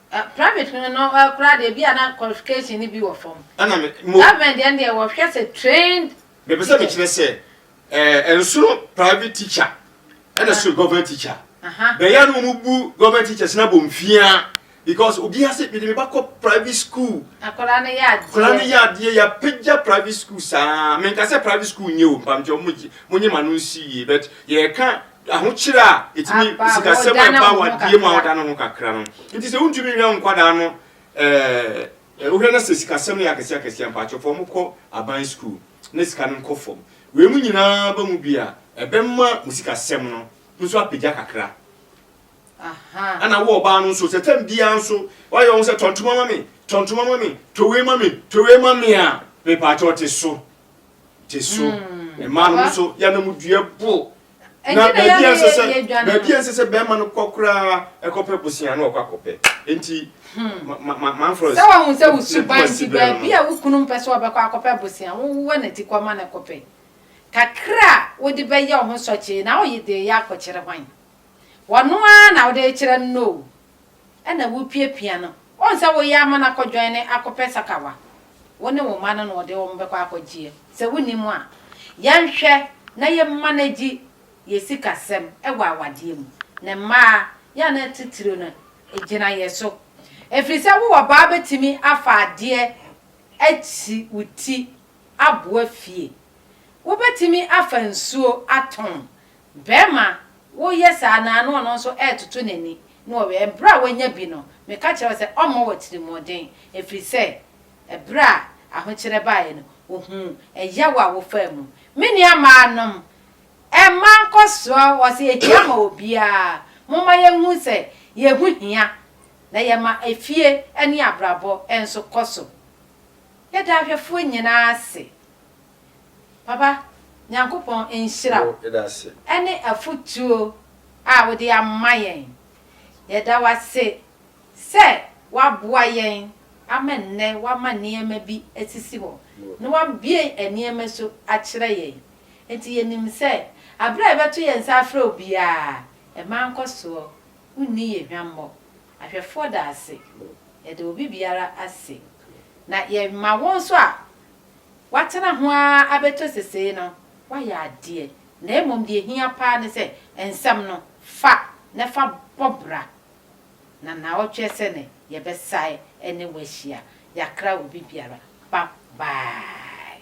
Private no no koraa deɛ ebi a na qualification no bi wɔ fam. Ɛna me mo. Government deɛ no deɛ wɔhwɛ sɛ trained teacher. Mepɛ sɛ mekyerɛ sɛ ɛɛ nsono private teacher ɛna so government teacher. Bɛyɛ no wɔn bu government teachers na bɔ mfia because obiara sɛ mede me ba kɔ private school. Akwadaa no yɛ adeɛ. Akwadaa no yɛ adeɛ yɛ apagya private school saa menka sɛ private school nyɛ o mpamkyɛ mo mo nye ma no nsi yie but yɛreka. ahokyere a etumi sikasɛm a ɛba awadeɛ mu a woda no ho kakra no nti sɛ wontumi nhwɛ nkwadaa no ɛɛ wohwɛ no sɛ sikasɛm no yɛ akɛseɛ akɛseɛ mpakyɛ fa wɔn kɔ aban sukuu na sika no nkɔ fam wei mu nyinaa ba mu bi a ɛbɛma wo sikasɛm no nso apagya kakra ɛna wo ɔbaa no nso sɛ tam biara nso wayɛ wɔn sɛ tɔntoma ma me tɔntoma ma me towei ma me towei ma me a mepakyɛ ɔte so gye so. Mmaa no nso yɛnamdua bo. Na baabi a ɛsɛ sɛ baabi a ɛsɛ sɛ bɛrima no kɔ koraa ɛkɔpɛ bosea no ɔkɔ akɔpɛ. Enti manfrɛ sɛ wɔn sɛ wosuban nti baabi a wo kunu mpɛ sɛ ɔbɛkɔ akɔpɛ bosea wowɔ n'ati kɔ ma no kɔpɛ. Kakra a wode bɛyɛ wo ho sɔkyee na woyɛ de yɛ akɔkyerɛ hwan? Wɔno ara na wode kyerɛ no o. na wupiapia no. Wohu sɛ woyɛ ama no akɔdwɛn ne akɔpɛ sakawa. Wo ne wo mma no na wɔde wɔn bɛkɔ akɔgyeɛ. Sɛ wonni mu a, yɛnhwɛ na yɛmmanegyi yɛn sikasɛm wɔ awadeɛ mu. Ne mmaa, yɛn a na titiriw no gyina yɛn so. Ɛfiri sɛ wo ɔbaa bɛtumi afa adeɛ akyi wo ti aboa fie. Wobɛtumi afa nsuo atɔn Barima, Woyɛ saa na na ɔno nso retoto n'ani na ɔwɛn. Bere a wanya bi no, meka kyerɛɛ wo sɛ ɔmmɔ w'atirimmɔden, ɛfiri sɛ bere a ahokyerɛ baeɛ no, ɔhuu ɛyaw a wofaa mu. Me nuammaanom, mma nkɔsoɔ hɔ sɛ ɛhia ma obiara. Momma yɛnhu sɛ yɛn ho hia, na yɛma efie ne abrabɔ nso kɔ so. Yɛda ahwɛfoɔ nyinaa ase. Papa, Nyankopɔn nhyira wo ɛne afotuo a wode ama yɛn. Yɛda wo ase sɛ woaboa yɛn ama nnɛ woama nneɛma bi asisi hɔ na woabue nneɛma so akyerɛ yɛn. Enti yɛnim sɛ aberɛ a yɛbɛto yɛn nsa afrɛ wo biara, mma nkɔsoɔ, wonni yɛn hwammɔ. Ahwɛfoɔ da ase. Yɛda obi biara ase. Na yɛma wo nso a, Watena ho ara abɛto sesei no, wayɛ adeɛ, na mmom deɛ ɛhia paa ne sɛ nsɛm no, fa na fa bɔ bra, na naawɔtweɛ sɛ ne yɛbɛsae ne wo ahyia. Yɛakra obi biara. Bye bye.